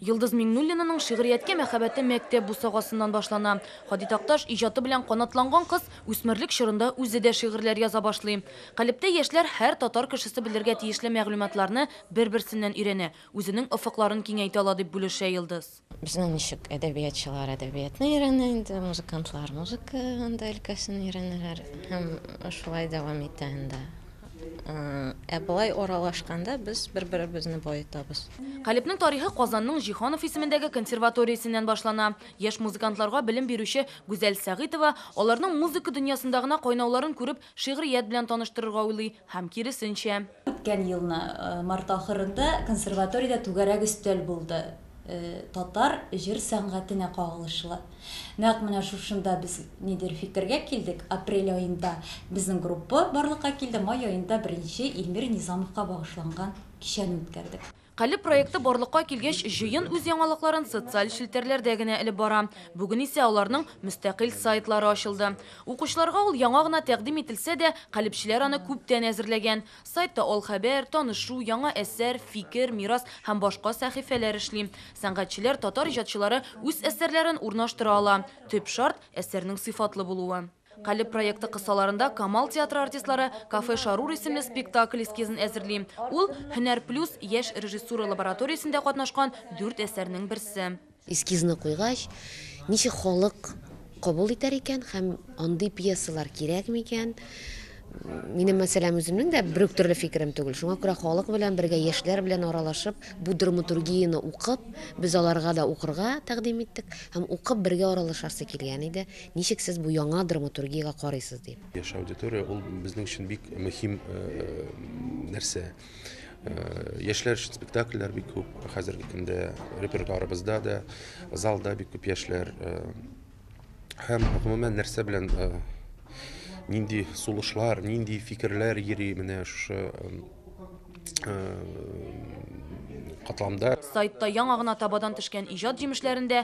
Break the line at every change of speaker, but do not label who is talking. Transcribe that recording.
Йолдыз Миңнуллинаның шигърияткә мәхәббәте мәктәп бусагасыннан башлана. Һади Такташ иҗаты белән канатланган кыз үсмерлек чорында үзе дә шигырьләр яза башлый. Калебтә яшьләр һәр татар кешесе белергә тиешле мәгълүматларны бер-берсеннән өйрәнә, үзенең офыкларын киңәйтә ала, дип бүлешә Йолдыз. Безнең ничек,
әдәбиятчылар әдәбиятны өйрәнә инде, музыкантлар музыка анда өлкәсен өйрәнәләр һәм шулай дәвам итә инде. Ә болай аралашканда без бер-беребезне баетабыз. Калебнең тарихы
Казанның Җиһанов исемендәге консерваториясеннән башлана. Яшь музыкантларга белем бирүче Гүзәл Сәгыйтова аларның музыка дөньясында гына кайнауларын күреп, шигърият белән таныштырырга уйлый һәм киресенчә. Үткән елны
март ахырында консерваториядә түгәрәк өстәл булды татар җыр сәнгатенә кагылышлы. Нәкъ менә шушында без нидер фикергә килдек, апрель аенда безнең группа барлыкка килде, май аенда беренче Илмир Низамовка багышланган кичәне үткәрдек. Калеб проекты
барлыкка килгәч, җыен үз яңалыкларын социаль челтәрләрдә генә элеп бара. Бүген исә аларның мөстәкыйль сайтлары ачылды. Укучыларга ул яңа гына тәкъдим ителсә дә, калебчеләр аны күптән әзерләгән. Сайтта ал хәбәр, танышу, яңа әсәр, фикер, мирас һәм башка сәхифәләр эшли. Сәнгатьчеләр татар иҗатчылары үз әсәрләрен урнаштыра ала. Төп шарт, әсәрнең сыйфатлы булуы. Калеб проекты кысаларында Камал театры артистлары Кафе Шарур исемле спектакль эскизын әзерли. Ул, Һөнәр плюс яшь режиссура лабораториясендә катнашкан дүрт әсәрнең берсе. Эскизны куйгач,
ничек халык кабул итәр икән һәм андый пьесалар кирәк микән? Минем, мәсәлән, үземнең дә бер үк төрле фикерем түгел. Шуңа күрә халык белән бергә, яшьләр белән аралашып, бу драматургияне укып, без аларга да укырга тәкъдим иттек һәм укып бергә аралашасы килгән иде. Ничек сез бу яңа драматургиягә карыйсыз дип. Яшь аудитория ул
безнең өчен бик мөһим нәрсә. Э, яшьләр өчен спектакльләр бик күп. Хәзерге көндә репертуарыбызда да, залда бик күп яшьләр. Э, һәм гомумән нәрсә белән э, нинди сулышлар, нинди фикерләр йөри менә шушы катламда. Сайтта
яңа гына табадан төшкән иҗат җимешләрен дә